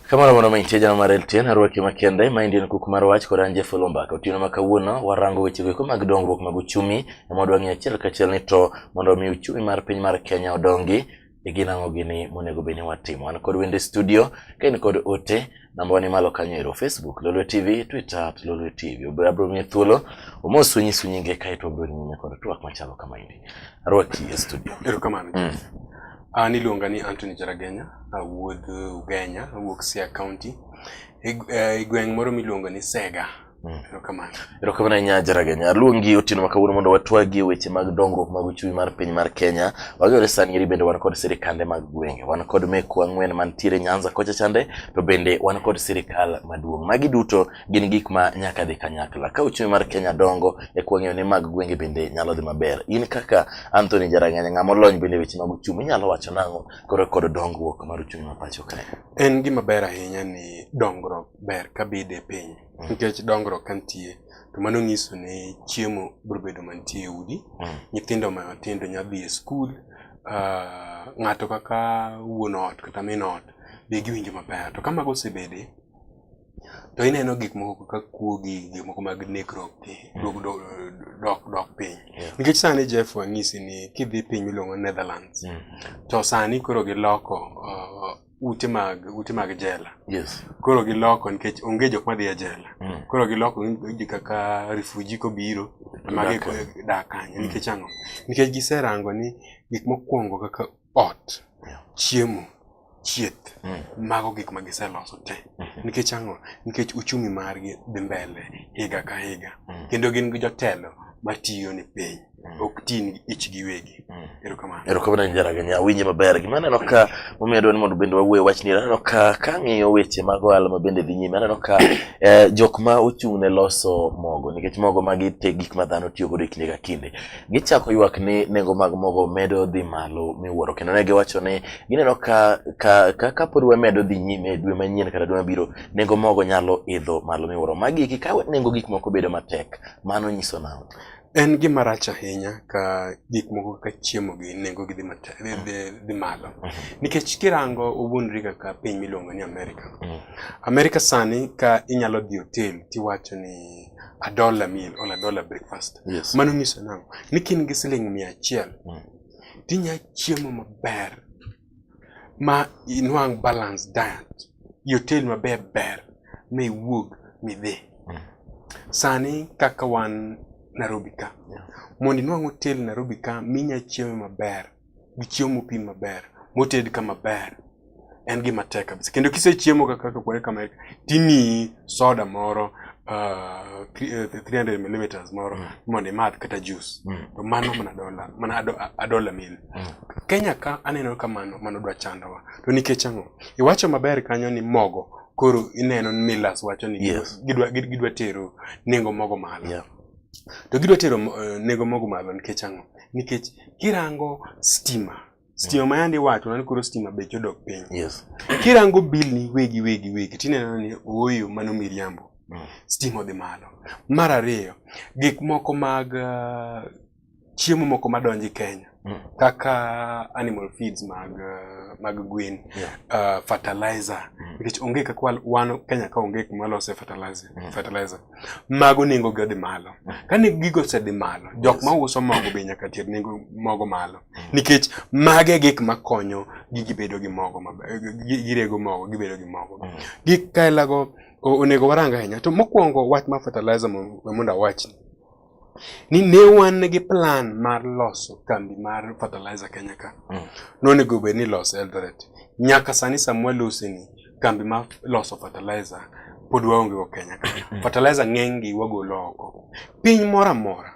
Kamano mondo mi tija no marel tien arwaki makende ma indien kuk mar wach kod anje folo mbaka otieno ma kawuono warango weche goeko mag dongruok mag uchumi ema wadwa ng'eyo achiel kachiel ni to mondo mi uchumi mar piny mar Kenya odongi e gin ang'o gini monego bed ni watimo. An kod wende studio, ka in kod ote, namba wani malo kanyo ero Facebook, Lolwe TV, Twitter at Lolwe TV. Obiro abiro miye thuolo, omos wenyisu nyinge kae to obiro nyime kod twak machalo kama endi. Arwaki e studio. Erokamano. Mm. An iluonga ni Anthony Jaragenya, awuod Ugenya, awuok Siaya County, e gweng' moro miluongo ni Sega. Mm. Erokamano ahinya Jaraganya. Aluongi otieno ma kawuono mondo watwagi e weche mag dongruok mag uchumi mar piny mar Kenya. Wagore sani eri bende wan kod sirikande mag gwenge, wan kod mekwa ang'wen mantiere Nyanza kocha chande, to bende wan kod sirikal maduong'. Magi duto gin gik ma nyaka dhi kanyakla. Ka uchumi mar Kenya dongo, e kwang'eyo ni mag gwenge bende nyalo dhi maber. In kaka Anthony Jaraganya, ng'ama olony bende e weche mag uchumi, inyalo wacho nang'o koro kod dongruok mar uchumi ma pacho kae? En gima ber ahinya ni dongruok ber ka bede piny mm. nikech dongruok ka nitie to mano nyiso ni chiemo biro bedo mantie e udi mm. nyithindo matindo nya dhi e skul ah, ng'ato kaka wuon ot kata min ot be giwinjo maber to ka mago osebede to ineno gik moko kaka kuogi gik moko mag nekruok gi mm. dok dok piny nikech sani Jeff wang'isi ni kidhi piny miluongo Netherlands to sani koro giloko ah, ute mag ute mag jela yes. koro giloko nikech onge jok madhi e jela mm. koro giloko ji kaka refuji kobiro magi dak kanyo mm. nikech ang'o nikech giserango ni gik mokwongo kaka ot yeah. chiemo chieth mm. mago gik ma giseloso te mm -hmm. nikech ang'o nikech uchumi margi dhi mbele higa ka higa mm. kendo gin gi jotelo matiyo ni piny mm. ok tin ich giwegi mm. erokamano erokamano njaraganya awinje maber gima aneno ka momiyo adwa ni mondo bende wawuoe wachni aneno ka kang'iyo weche mag ohala ma bende dhi nyime aneno ka eh, jok ma ochung' ne loso mogo nikech mogo magi te gik ma dhano tiyo godo e kinde ka kinde gichako ywak ni nengo mag mogo medo dhi malo miwuoro kendo ne giwacho ni gineno ka ka ka kapod wamedo dhi nyime dwe manyien kata dwe mabiro nengo mogo nyalo idho malo miwuoro magi ka nengo gik moko bedo matek mano nyiso nang'o En gima rach ahinya ka gik moko kaka chiemo gi nengo gi dhi malo. Mhm. Nikech kirango owuondri kaka piny miluongo ni Amerika. Mhm. Amerika sani ka inyalo dhi hotel tiwacho ni a dollar meal or a dollar breakfast. Yes. Mano nyiso nang'o? Ni kin gi siling mia achiel mhm. tinya chiemo maber ma inwang' balance diet yotel maber ber ma iwuog midhi mm. sani kaka wan Nairobi ka mondo inwang' hotel Nairobi ka minya chiemo maber gi chiemo mopim maber moted ka maber en gima tek kabisa kendo kisechiemo kaka kaka kama timiyi soda moro uh, 300 mm moro mm. mondo imadh kata juice mm. to mano mana dola mana ado, adola mil mm. Kenya ka aneno ka mano mano dwa chandowa to nikech ang'o iwacho maber kanyo ni mogo koro ineno ni Millers wacho ni yes. gidwa, gidwa tero nengo mogo malo yeah. to gidwa tero uh, nengo mogo malo nikech ang'o nikech kirango stima Stima ma yandi wacho nan koro stima bech odok piny. Yes. Kirango bill ni wegi wegi wegi tineno ni oyo mano miriambo. Mm. Stima odhi malo. Mar ariyo, gik moko mag uh, chiemo moko madonji Kenya mm. kaka animal feeds mag uh, mag gwen yeah. uh, fertilizer mm. nikech onge kaka wan Kenya ka onge kuma lose fertilizer mm. fertilizer mago nengo gi odhi malo. Kane gigo osedhi malo, jok ma uso mogo be nyaka ter nengo mogo malo. Mm. Nikech mage gik ma konyo gi gibedo gi mogo maber, girego mogo, gibedo gi mogo. Mm. Gik kaelago onego warang ahinya. To mokwongo wach ma fertilizer mondo awachni. ni ne wan gi plan mar loso kambi mar fertilizer Kenya ka. Mm. Nonego bed ni loso Eldoret. Nyaka sani Samuel Usi ni kambi mar loso fertilizer pod waonge go Kenya ka. Mm. Fertilizer ng'eny gi wagolo oko. Piny moro amora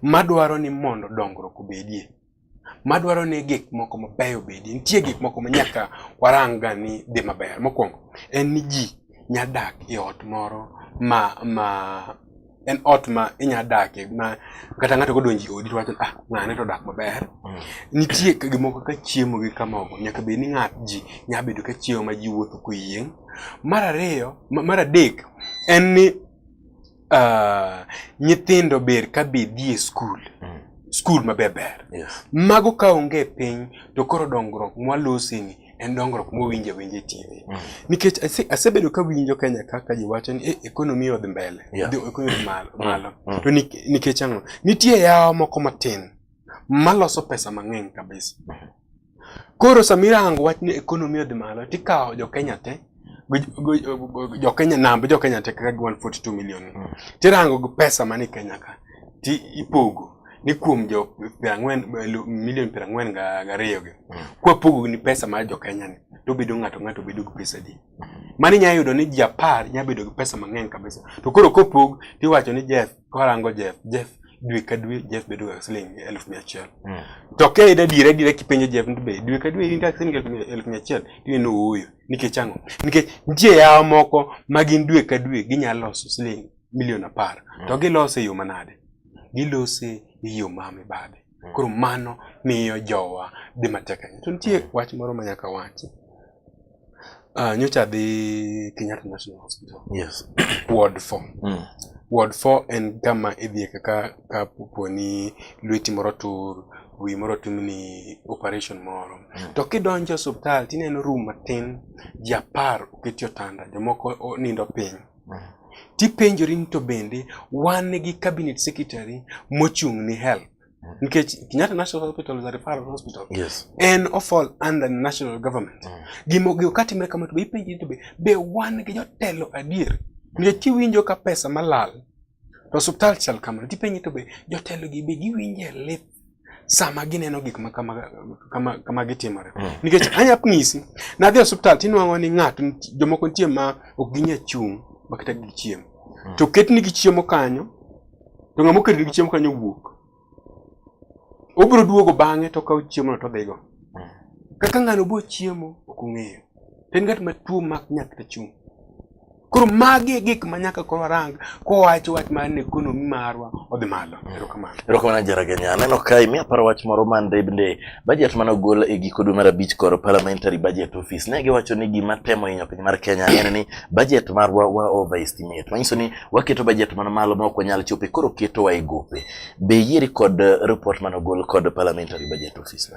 madwaro ni mondo dongruok obedie madwaro ni gik moko mabeyo bedi. Nitie gik moko ma nyaka waranga ni dhi maber. Mokwongo en ni ji nya dak e ot moro ma ma en ot ma inya dake ma kata ng'ato kodonji odi to wacho ah ng'ane to dak maber. Mm. Nitie gik moko ka chiemo gi kamogo nyaka bed ni ng'at ji nya bedo ka chiemo ma ji wuotho koyieng'. Mar ariyo mar adek en ni Uh, nyithindo ber ka be dhi e skul mm. skul maber ber yes. mago ka onge piny to koro dongruok mwaloseni en dongruok mowinjo awinja e TV mm. nikech asebedo ka winjo Kenya kaka ji wacho ni eh, ekonomi odhi mbele yeah. ekonomi malo, mm. malo. Mm. to nikech ang'o nitie yawa moko matin maloso pesa mang'eny kabisa. Koro samira hango wach ni ekonomi odhi malo tikawo jo Kenya te jo Kenya namba jo Kenya te kaka 142 million hmm. tirango gi pesa mani Kenya ka ti ipogo ni kuom jo pirang'wen milion pirang'wen ga gariyo gi hmm. kwa pogo ni pesa mar jo Kenya ni to bedo ng'ato ng'ato bedo gi pesa di hmm. mani nya yudo ni japar nya bedo gi pesa mang'eny kabisa to koro kopog tiwacho ni Jeff kwarango Jeff Jeff dwe ka dwe Jeff bedo ga siling elfu mia achiel mm. to ka ida dire dire kipenjo Jeff ni be dwe ka dwe in ga siling elfu mia achiel dwe no ooyo nikech ang'o nikech nitie yawa moko ma gin dwe ka dwe ginyalo loso siling milion apar mm. to gilose e yo manade gilose e yo ma mibadhi mm. koro mano miyo jowa dhi matek ahinya to nitie mm. wach moro ma nyaka wachi Uh, nyocha adhi Kenyatta National Hospital. Yes. Ward 4. Mm. Ward 4 en kama idhiye kaka ka poni lweti moro tur, wi moro timni operation moro. Mm. To kidonjo osiptal tineno room matin, ji apar oketi otanda, jomoko nindo piny. Mm. Tipenjori ni to bende wan gi cabinet secretary mochung' ni health nikech Kenyatta National Hospital is a referral hospital yes. and of all under national government mm. gimo gimo kati mre kama to be ipenji to be be wan gi jotelo adier nikech kiwinjo ka pesa malal to hospital chal kamano tipenji to be jotelo gi be giwinje lith sama gineno gik ma kama kama, kama gitimore mm. nikech anya ng'isi nadhi hospital tinwang'o ni ng'ato jomoko nitie ma ok ginya chung' makata gi chiemo mm. to ketni gi chiemo kanyo To ng'ama okedo gi chiemo kanyo wuok. Obiro duogo bang'e to okawo chiemono to odhigo. Kaka ng'ano bo chiemo ok ong'eyo. To en ng'at ma tuo mak nyathi to chung'. Koro magi e gik ma nyaka koro warang kowacho wach mar ni ekonomi marwa odhi malo. Erokamano. Erokamano Jeraganya. Aneno ka imi aparo wach moro man bende bajet mane ogol e giko dwe mar abich koro parliamentary budget office ne giwacho ni gima temo hinyo piny mar Kenya en ni bajet marwa wa overestimate. Manyiso ni waketo bajet man malo ma ok wanyal chope koro ketowa e gope. Be yieri kod eh, report mane ogol kod parliamentary budget office?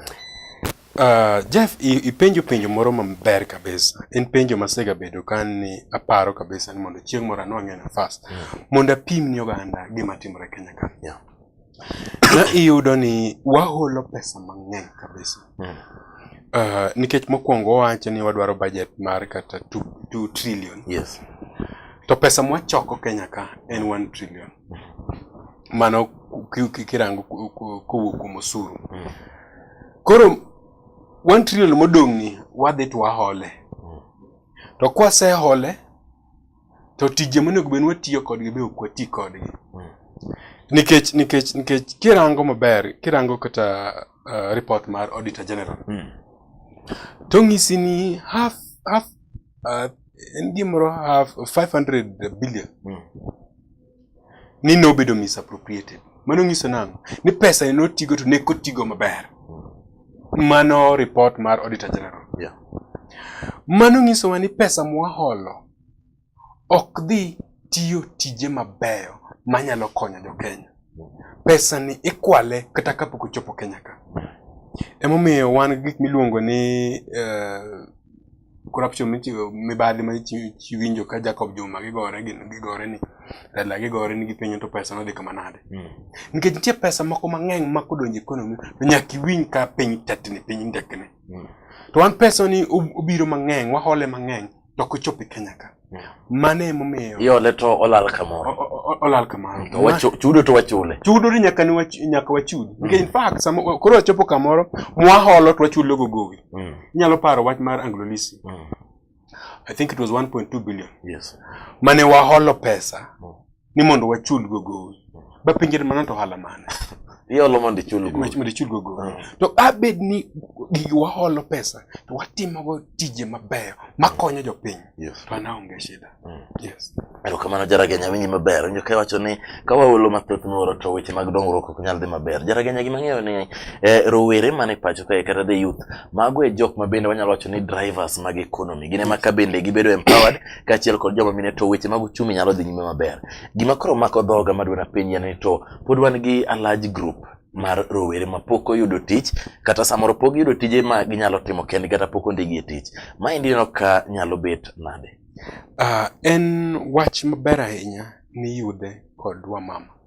Uh, Jeff, ipenjo penjo moro maber kabisa. En penjo masega bedo kan ni aparo kabisa ni mondo chieng' moro anwang'e nafas. Mm. Mondo apim ni oganda gima timore Kenya ka. Yeah. na iyudo ni waholo pesa mang'eny kabisa mm. uh, nikech mokwongo wawacho ni wadwaro budget mar kata 2 trillion yes. to pesa mwachoko kenya ka en 1 trillion mano kirango kowuok kuom osuru mm. koro 1 trillion modong'ni wadhi to wahole mm. to kwasehole to tije monego bed ni watiyo kodgi be ok wati kodgi mm. nikech nikech nikech kirango maber kirango kata uh, report mar auditor general mm. to ng'isi ni half half uh, en gimoro half 500 billion mm. ni nobedo misappropriated. Mano nyiso nang'o? Ni pesa ne notigo to ne kotigo maber. Mano report mar Auditor General. Yeah. Mano nyisowa ni pesa mwaholo ok dhi tiyo tije mabeyo manyalo konyo jo Kenya. Pesa ni ikwale kata kapok ochopo Kenya ka. Emomiyo wan gi gik miluongo ni uh, corruption michiwo mibadhi ma iwinjo ka Jacob Juma gigore gigore ni lela gigore ni gipenyo to pesa nodhi kama nade hmm. nikech nitie pesa moko mang'eny ma kodonjo economy to nyaka iwinj ka piny tetni piny ndekni hmm. to wan pesa ni obiro mang'eny wahole mang'eny to ok ochopi Kenya ka mane emomiyo iole to olal kamoro olal kamoro to wachu, chudo to wachule chudo ni nyaka ni wach, nyaka wachudi mm. in fact sama koro wachopo kamoro mwaholo to wachulo go gowi mm. inyalo paro wach mar anglo lisi mm. i think it was 1.2 billion yes mane waholo pesa mm. ni mondo wachul go gowi bapenjere mano to ohala mane iolo mondo ichul gowi mondo ichul go gowi mm. to abed ni gigi waholo pesa to watimogo tije mabeyo makonyo jopiny yes. to anaonge shida mm. yes. erokamano jaragenya winji maber winjo ka iwacho ni ka waolo mathoth miwuoro to weche mag dongruok ok nyal dhi maber jaragenya gima ng'eyo ni eh, rowere mane pacho kae kata the youth mago e jok ma bende wanyalo wacho ni drivers mag economy gin ema ka bende gibedo empowered kaachiel kod joma mine to weche mag uchumi nyalo dhi nyime maber. Gima koro mako dhoga madwa napenji en ni to pod wan gi a large group mar rowere ma pok oyudo tich kata samoro pok giyudo tije ma ginyalo timo kendgi kata pok ondigi e tich. Maendi ineno ka nyalo bet nade? Ah, en wach maber ahinya ni yudhe kod wamama.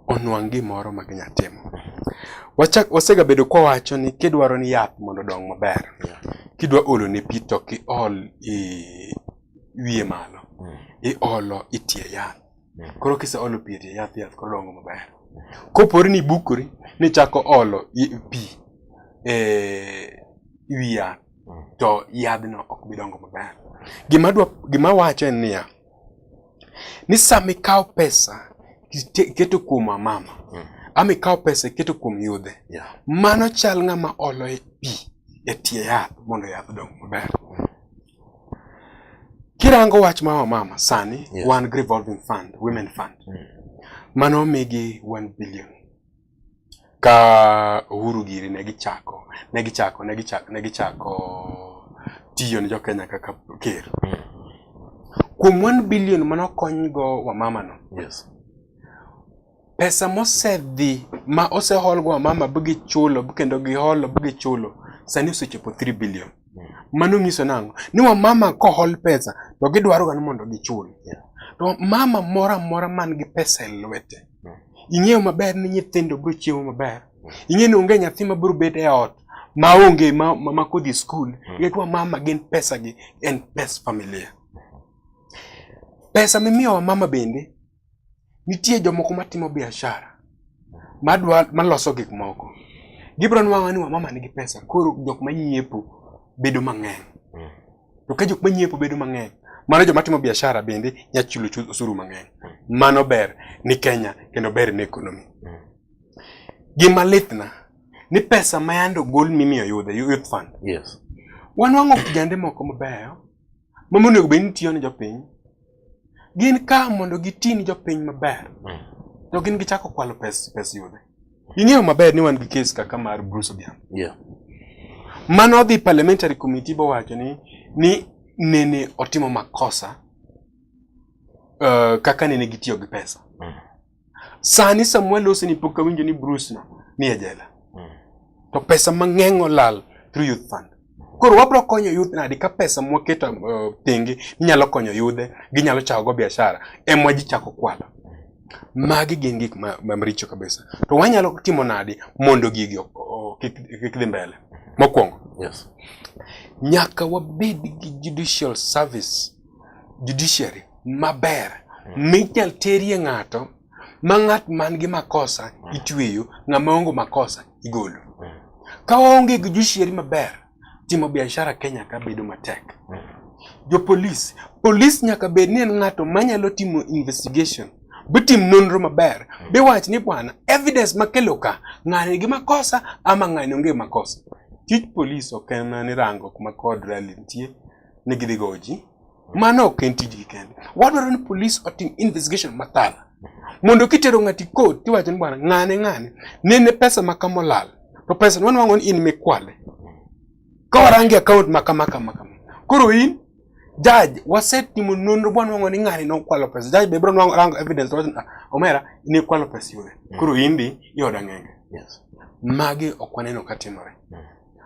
onwang' gimoro ma ginya timo. Wachak wasegabedo kwa wacho ni kidwaro ni yath mondo odong maber, kidwa olo ne pi to ok iol i wiye malo, mm. iolo itie yath. Mm. Koro kiseolo pi itie yath, yath koro dongo maber. Kopore ni ibukori ni ichako olo pi e wi yath, mm. to yadhno ok bi dongo maber. Gima wacho en niya, ni sama ikawo pesa iketo kuom amama mm. ama ikawo pesa iketo kuom yudhe yeah. mano chal ng'ama olo e pi e tie yath mondo yath dong maber mm. kirango wach ma wamama sani yeah. wan revolving fund women fund mm. mano omigi 1 billion Ka Uhuru giri ne gichako, ne gichako, ne gichako, ne gichako tiyo ne jo Kenya kaka ker. Mm. Kuom 1 billion mane okonygo wamama no. Yes. Pesa mosedhi ma oseholgo wamama bi gichulo kendo giholo bi gichulo sani osechopo 3 billion. Mano nyiso nang'o? Ni wamama kohol pesa to gidwaroga ni mondo gichul. To mama moro amora man gi pesa e lwete, ing'eyo maber ni nyithindo biro chiemo maber. Ing'eyo ni onge nyathi ma biro bet e ot ma onge ma, ma, ma kodhi skul. Mm. Ing'eyo wa mama gin pesa gi en pes familia. Pesa mimiyo wa mama bende Nitie jomoko matimo biashara madwa maloso gik moko. Gibro nwang'o ni wamama nigi pesa koro jok manyiepo bedo mang'eny. Mm. To ka jok manyiepo bedo mang'eny, mano joma timo biashara bende nya chulo osuru mang'eny. Mm. Mano ber ni Kenya kendo ber ni ekonomi. Mm. Gima litna ni pesa ma yando gol mimiyo yudhe youth fund. Yes. Wanwang'o kijande moko mabeyo ma monego bed ni tiyo ne jopiny gin ka mondo gitin jopiny maber mm. to gin gichako kwalo pes pes yudhe ing'eyo maber ni wan gi kes kaka mar Bruce Odhiambo yeah. mano odhi parliamentary committee bowacho ni ni nene otimo makosa uh, kaka nene gitiyo gi pesa mm. Sani Samuel Oseni pok kawinjo ni Bruce no ni e jela. Hmm. To pesa mang'eny olal through youth fund. Koro wabro konyo youth nadi ka pesa mwaketo uh, tenge inyalo konyo yudhe, ginyalo chako go biashara, emwa ji chako kwalo. Magi gin gik ma, ma maricho kabisa. To wanyalo timo nadi mondo gigi kik dhi mbele. Mokwongo. Yes. Nyaka wabed gi judicial service judiciary maber mm. minyal terie ng'ato ma ng'at man gi makosa mm. itweyo ng'ama ongo makosa igolo mm. ka onge gi judiciary maber timo biashara Kenya ka bedo matek jo polis polis nyaka bed ni en ng'ato manyalo timo investigation bitim nonro maber biwach ni bwana evidence makelo ka ng'ani gi makosa ama ng'ani onge makosa tij polis ok en ni rango kuma kod rally nitie ne gidhi goji. Mano ok en tijgi kende. Wadwaro ni polis otim investigation mathala. Mondo kitero ng'ati kot tiwacho ni bwana ng'ane ng'ane nene pesa ma kama olal. To pesa wan wango ni in mikwale. Ka warangi account ma kama kama kama. Koro in judge wasetimo nonro bwana wango ni ng'ani nokwalo pesa. Judge be bro nwango rango evidence wacho ah, omera ni kwalo pesa yule. Koro indi yoda ng'enge. Yes. Magi ok waneno ka timore.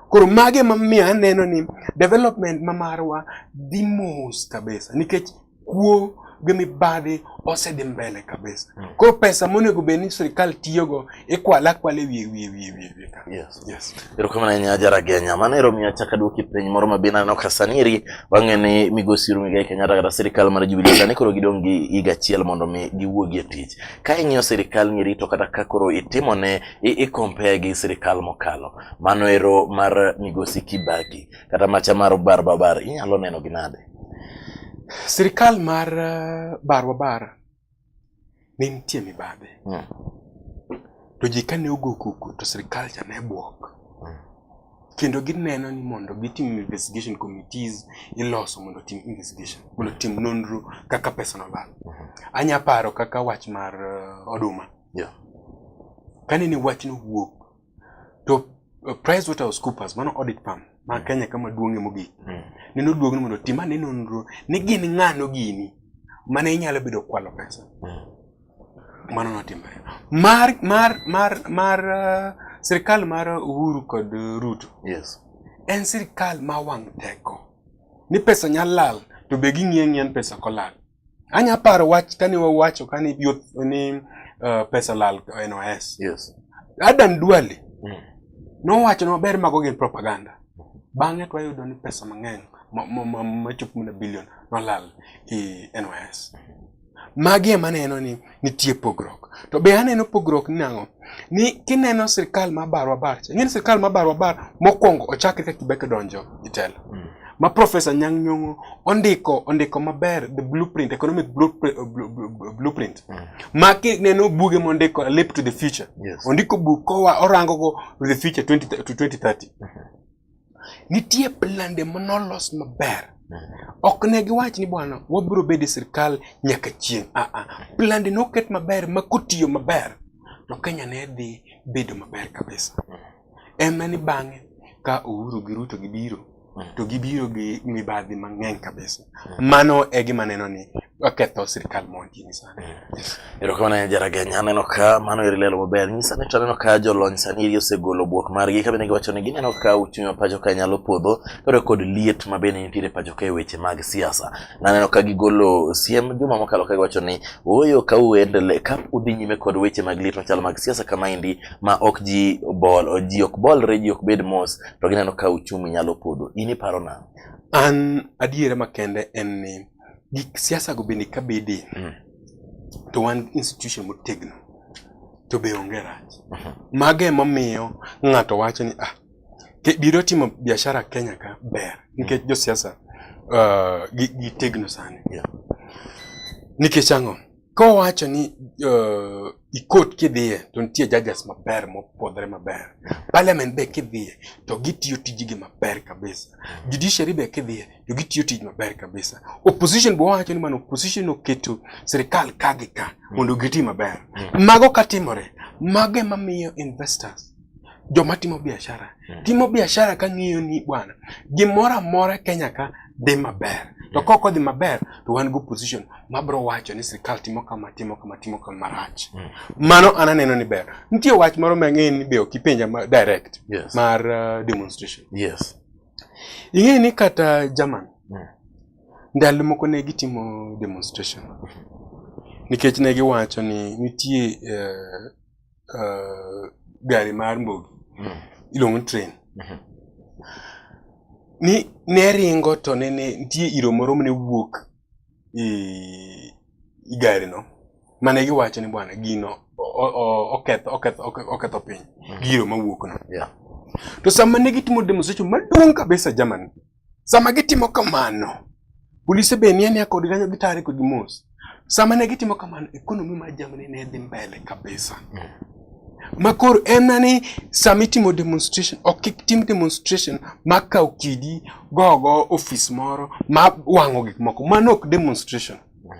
Koro mage ema miyo aneno ni development ma marwa dhi mos kabisa nikech kuo gi mibadhi osedhi mbele kabisa. Mm. Koro pesa monego bed ni sirkal tiyogo ikwala kwala wiye wiye wiye wiye wiye. Yes. Yes. Erokamano ahinya Ajara Genya. Mano ero miyo achako aduoki penj moro ma bende aneno ka sani eri wang'e ni Migosi Uhuru Muigai Kenyatta kata sirkal mar Jubilee sani koro gidong' gi higa achiel mondo mi giwuogi e tich. Ka ing'iyo sirkal ni eri to kata ka koro itimo ne i, i compare gi sirkal mokalo. Mano ero mar migosi Kibaki kata macha mar bar babar inyalo neno gi nade? Sirikal mar eh, bar babar ne nitie mibadhi hmm. to ji kane ogo kuku to sirikal cha ne bwok hmm. kendo gineno ni mondo gitim investigation committees iloso mondo tim investigation mondo tim nonro kaka pesa nolal. Hmm. Anya paro kaka wach mar eh, oduma yeah. kane ni wachno wuok to uh, PricewaterhouseCoopers mano audit firm ma mm. Kenya kama duong'e mogik mm. ne noduog ni mondo tim ane nonro ni gin ng'ano gini mane inyalo bedo kwalo pesa mm. mano notimore mar mar mar mar uh, sirkal mar Uhuru kod uh, Ruto yes en sirkal ma wang' teko ni pesa nyalo lal to be ging'iyo ng'iyan pesa kolal Anya paro wach kane wawacho kane youth ni uh, pesa lal NYS. Yes. Adan Duale mm. nowacho ni maber mago gin propaganda. Bang'e to wayudo ni pesa mang'eny machopo mana bilion nolal i NYS. Magi ema neno ni Nitie pogruok. To be aneno pogruok ni nang'o? Ni kineno sirkal ma barwa bar, ing'eni sirkal ma barwa bar mokwongo ochakre ka Kibaki donjo e telo. Mm. Ma Professor Nyang' Nyong'o ondiko ondiko maber the blueprint, economic blueprint, blueprint. Mm. Ma kineno buge mondiko Leap to the Future. Yes. Ondiko buk kowa orango go the future 20 to 2030. Mm -hmm. nitie plande manolos maber ok ne giwach ni bwana wabiro bedo e sirkal nyaka chieng' aa ah, ah. plande noket maber ma kotiyo maber to kenya ne dhi bedo maber kabisa ema ni bang'e ka Uhuru gi Ruto gibiro to gibiro gi mibadhi mang'eny kabisa mano e gima neno ni waketho sirkal moro kini sani. Erokamano ahinya Jaraganya, aneno ka mano eri lelo maber. Nyisa ni to aneno ka jolony sani eri osegolo bwok margi ka bende giwacho ni gineno ka uchumi ma pacho ka nyalo podho kaluwore kod liet ma bende nitiere pacho ka e weche mag siasa. Naneno ka gigolo siem juma mokalo ka giwacho ni ooyo ka uendele ka udhi nyime kod weche mag liet machalo mag siasa kamaendi ma ok ji bol ji ok bolre ji ok bed mos to gineno ka uchumi nyalo podho. In iparo nang'o? An adiera makende en ni gik siasa go bende ka bede mm. to wan institution motegno to be onge rach uh -huh. mage emomiyo ng'ato wacho ni ah biro timo biashara Kenya ka ber nikech mm. josiasa uh, gitegno sani yeah. nikech ang'o Kowacho ni uh, ikot kidhiye to nitie judges maber mopodhre maber. Parliament be kidhiye to gitiyo tijigi maber kabisa. Judiciary be kidhiye to gitiyo tij maber kabisa. Opposition be wacho ni mano opposition oketo sirkal ka gi ka mondo giti maber. Mm. Mago katimore, mage mamiyo investors joma timo biashara hmm. timo biashara ka ng'iyo ni bwana gimoro amora Kenya ka dhi maber to ka ok odhi maber to wan go position mabro wacho ni sirkal timo kama timo kama timo kama marach hmm. mano an aneno ni ber nitie wach moro mang'eyo ni be ok ipenja ma direct yes. mar uh, demonstration yes. ing'eyo ni kata German hmm. ndalo moko ne gitimo demonstration nikech ne giwacho ni nitie uh, uh, gari mar mbogi mm. iluongo ni train mm -hmm. ni ne ringo to ne ne nitie iro moro mane wuok i, i gari no mane giwacho ni bwana gino oketho oketho oketho piny mm. giro mawuok no yeah. to sama ne gitimo demonstration maduong' kabisa Germany Sama gitimo kamano, polise be nie nia kod kanyo gitare kod mos. Sama ne gitimo kamano, ekonomi mar Germany ne dhi mbele kabisa. Mm. Ma koro en nani sama itimo demonstration, ok kik tim demonstration ma kaw kidi gogo ofis moro ma wang'o gik moko. Mano ok demonstration. Mm.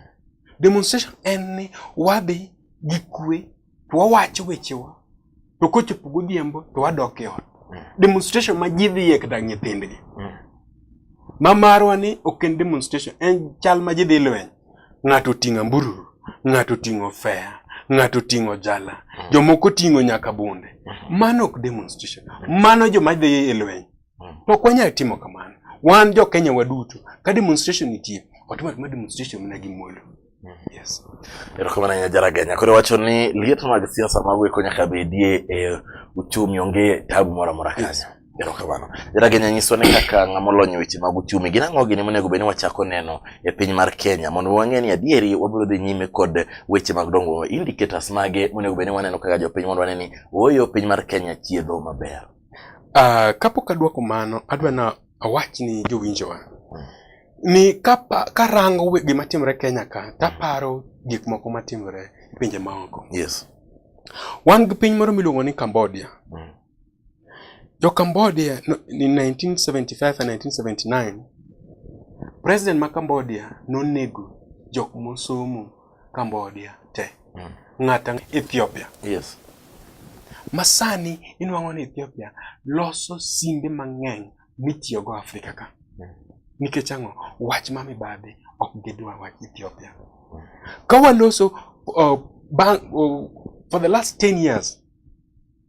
Demonstration en ni wadhi gi kwe to wawacho wechewa to kochopo godhiambo to wadok e ot mm. demonstration ma ji dhi e kata nyithindgi mm. ma marwa ni ok en demonstration en chal ma ji dhi lweny ng'ato oting'o ambururu ng'ato oting'o fea ng'ato oting'o jala mm. jomoko oting'o nyaka bunde mano ok demonstration mano joma dhi e lweny Mm. To ok wanyal timo kamano. Wan jo Kenya waduto ka demonstration nitie, watimo atuma demonstration mana gi muolo. Mm. Yes. Erokamano ahinya Jaraganya. Koro wacho ni liet mag siasa mago eko nyaka bedie e uchumi onge tabu moro amora kanyo. Yes. Erokamano. Jaraganya nyiswa ni kaka ng'ama olony weche mag uchumi gin ang'o gini monego bed ni wachako neno e piny mar Kenya mondo wang'e ni adieri wabiro dhi nyime kod weche mag dongruok. Indicators mage monego bed ni waneno kaka jopiny mondo wane ni ooyo piny mar Kenya chiedho maber. Uh, kapok adwoko mano adwa na awach ni jowinjowa hmm. ni kapa karango gima timore Kenya ka taparo gik moko matimore e pinje maoko. Yes. Wan gi piny moro miluongo ni Cambodia. Mm. Jo Cambodia no, ni 1975 and 1979 President ma Cambodia nonego jok mosomo Cambodia te mm. ng'ata Ethiopia yes masani inwang'o ni Ethiopia loso simbe mang'eny mitiyogo Afrika ka mm. nikech ang'o wach ma mibadhi ok gidwa wach Ethiopia mm. ka waloso uh, bang, uh, for the last 10 years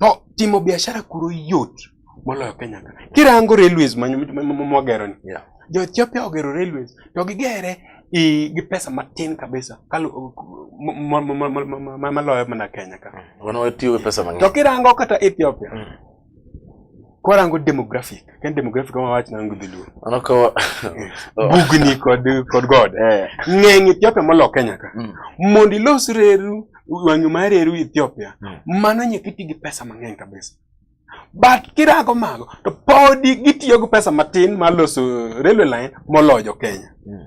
No, timo biashara kuro yot moloyo Kenya ka. Kirango railways mwagero ni. Yeah. Jo Ethiopia ogero railways to gigere gi pesa matin kabisa kalu maloyo mana Kenya ka. Wana watiyo gi pesa mang'eny. To kirango kata Ethiopia. Mm. Kwarango demographic, ken demographic ma wach na ngi dhulu. Ano ko bugni kod kod god. Eh. Ng'eng Ethiopia molo Kenya ka. Mm. Mondi los reru wanyu mar reru Ethiopia. Mm. Mano nyaka iti gi pesa mang'eny kabisa. But kirago mago to podi gitiyo gi pesa matin mar loso railway line moloyo Kenya. Mm.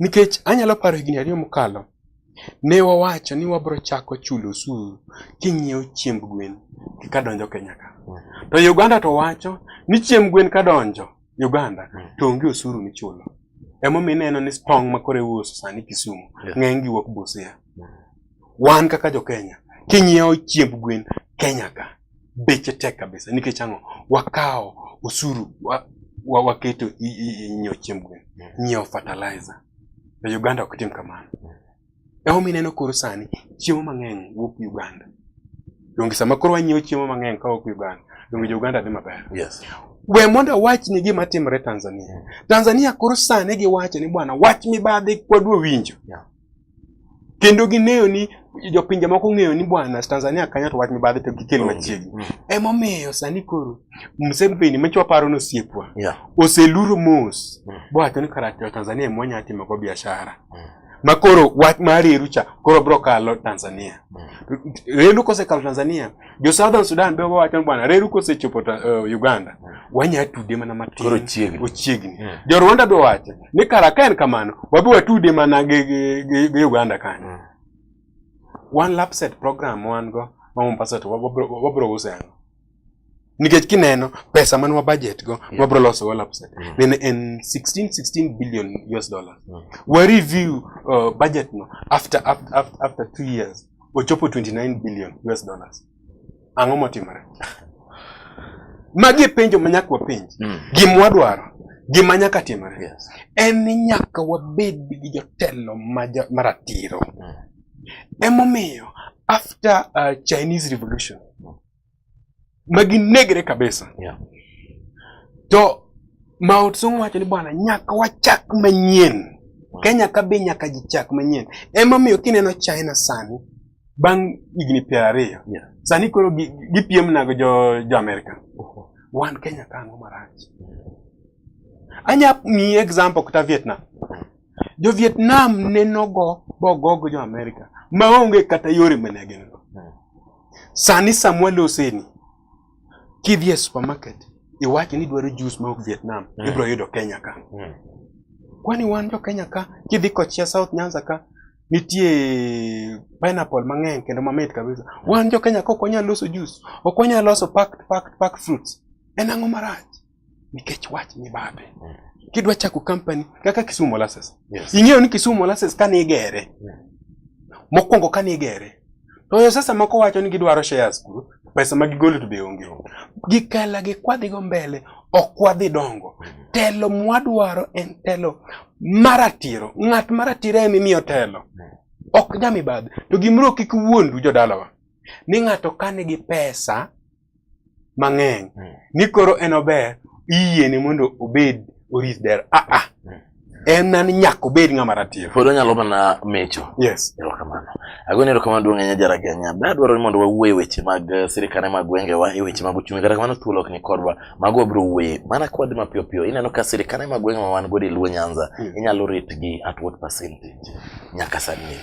Nikech anyalo paro higni ariyo mokalo, ne wawacho ni wabiro chako chulo osuru king'iewo chiemb gwen kadonjo Kenya ka. To Uganda to wacho ni chiemb gwen kadonjo Uganda to onge osuru michulo. Emomiyo ineno ni tong' ma koro iuso sani Kisumu ng'eny gi wuok Busia. Wan kaka jo Kenya, king'iewo chiemb gwen Kenya ka, beche tek kabisa nikech ang'o wakawo osuru wa, wa, waketo nyiewo chiemb gwen nyiewo fertilizer to uganda ok tim kamano emomiyo ineno koro sani chiemo mang'eny wuok uganda donge sama koro wanyiewo chiemo mang'eny kawuok uganda donge jouganda dhi maber yes. we mondo awach ni gima timore tanzania tanzania koro sani giwacho ni bwana wach mibadhi kwadwa winjo yeah. kendo ging'eyo ni jopinje moko ng'eyo ni bwana Tanzania kanyo to wach mibadhi to gikel mm, machiegni mm. emomiyo sani koro Museveni ma chwaparo ni osiepwa oseluro mos mm. bowacho ni kara Tanzania ema wanyalo timogo biashara ma koro wach mar reru cha koro bro kalo Tanzania reru kosekalo Tanzania jo Southern Sudan be wacho bwana reru kosechopo uh, Uganda hmm. wanya tude mana matin koro chiegni ochiegni yeah. Hmm. jo Rwanda be wacho ni kara ka en kamano wabi watude mana gi, gi, gi, gi Uganda kanyo yeah. Hmm. one lap set program wan go ma Mombasa to wabro use ang'o nikech kineno pesa man wa budget go yeah. wabro loso wa lap set yeah. nene en 16 16 billion US dollars yeah. wa review uh, budget no after after after, after two years ochopo 29 billion US dollars. Ang'o motimore? Magi penjo ma nyaka wapenj. Mm. Gima wadwaro, gima nyaka timore. Yes. En ni nyaka wabed gi jotelo maratiro. Mm. Emomiyo after uh, Chinese Revolution ma ginegre kabisa yeah. to Maot Song wacho ni bwana, nyaka wachak manyien. Kenya ka be nyaka jichak manyien. Ema miyo kineno China sani bang' higni piero ariyo yeah. sani koro gipiem gi nago jo, jo Amerika. Uh-huh. Wan Kenya ka ang'o marach? Anya miyi example kata Vietnam. jo Vietnam ne nogo bogogo jo Amerika maonge kata yore mane gin go. Hmm. Sani samwa loseni kidhi e supermarket iwachi ni dwaro jus ma ok Vietnam hmm. ibro yudo Kenya ka. Hmm. Kwani wan jo Kenya ka kidhi kochia South Nyanza ka nitie pineapple mang'eny kendo mamit kabisa. Wan jo Kenya ka ok wanyal loso jus, ok wanyal loso packed packed packed fruits. En ang'o marach? nikech wach mibadhi mm. kidwa chako company kaka Kisumu Molasses yes. ing'eyo ni Kisumu Molasses kane igere yeah. Mm. mokwongo kane igere to yo sasa moko wacho ni gidwaro shares kuro pesa ma gigolo to be onge gikala gikwadhigo mbele ok wadhi dongo mm. telo mwadwaro en telo maratiro ng'at maratiro en imiyo telo ok nyamibadhi to gimro kik wuondu jodalawa ni ng'ato kane gi pesa mang'eny mm. ni koro en ober iyiene mondo obed orit dera aa ah, ah. mm. en nani nyaka obed ng'ama ratiro pod onyalo mana mecho yes erokamano agoni erokamano duong' ahinya jaraganya be adwaro ni mondo wawuo e weche mag eh, sirikane mag gwengewa e weche mag uchumi kata kamano thuolo ok ni kodwa mago wabiro wuoye mana kwadi mapiyo piyo ineno ka sirikane mag gwengewa wan godo e luo nyanza mm. inyalo ritgi at what percentage nyaka sani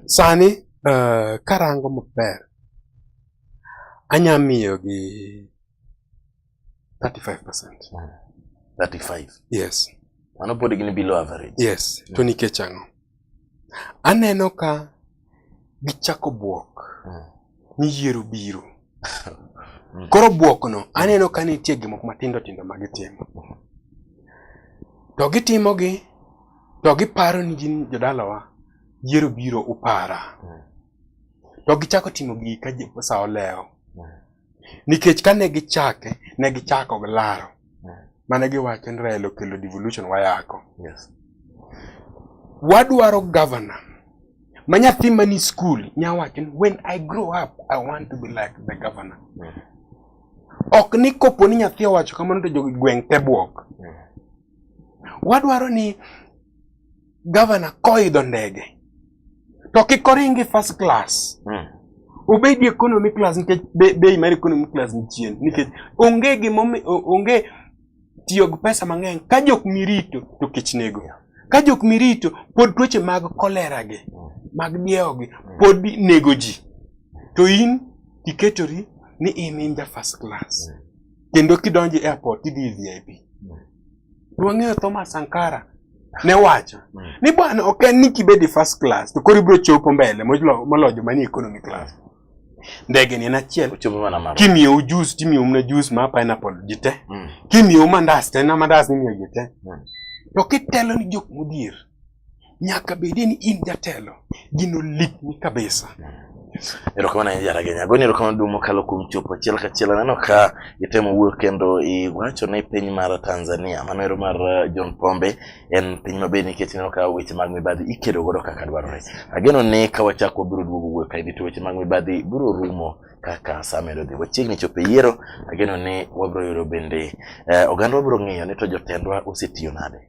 sani uh, karango maber Anya miyo gi 35%. 35. Yes. Mano pod gin below average. Yes. To mm. nikech ang'o? Aneno ka gichako bwok mm. ni yiero biro. Mm. Koro bwokno aneno ka nitie gik moko matindo tindo ma gitimo. To gitimogi to giparo ni gin jodalawa yiero biro upara. to gichako timo gigi ka sa olewo nikech kane gichake ne gichako gi laro mane giwacho ni Raila okelo devolution wayako yes. wadwaro governor ma nyathi mani school nyawacho ni when I grow up I want to be like the governor mm. ok ni kopo ni nyathi owacho kamano to jogweng' te bwok mm. wadwaro ni gavana koidho ndege to kik oringi first class mm. obedi economy class nikech bei mar economy class ni chien nikech onge gimo onge tiyo gi pesa mang'eny ka jok mirito to kech nego ka jok mirito pod tuoche mag kolera gi mm. mag diewo gi mm. pod nego ji to in iketori ni in in ja first class mm. kendo kidonjo e airport idhi e VIP Wang'eyo Thomas Sankara ne wacho hmm. ni bwana ok en ni kibedi first class to koro ibiro chopo mbele moloyo joma ni economy class. Ndege ni en achiel. Kimiyo ujusi timiyo mna juice ma pineapple jite. Hmm. Kimiyo mandas tena mandas ni miyo jite. Hmm. To kitelo ni jok mudhier. nyaka bedi ni in jatelo gino likni kabisa erokamano ahinya jaragenya goni erokamano duong' mokalo kuom chopo achiel kachiel aneno ka itemo wuoyo kendo iwacho ni piny mar tanzania mano ero mar uh, john pombe en piny maber nikech ineno ka weche mag mibadhi ikedo godo kaka dwarore ageno ni ka wachak wabiro duogo wuoyo kaendi to weche mag mibadhi biro rumo kaka saa medo dhi wachiegni chopo e yiero ageno ni wabiro yudo bende eh, oganda wabiro ng'eyo ni to jotendwa osetiyo nade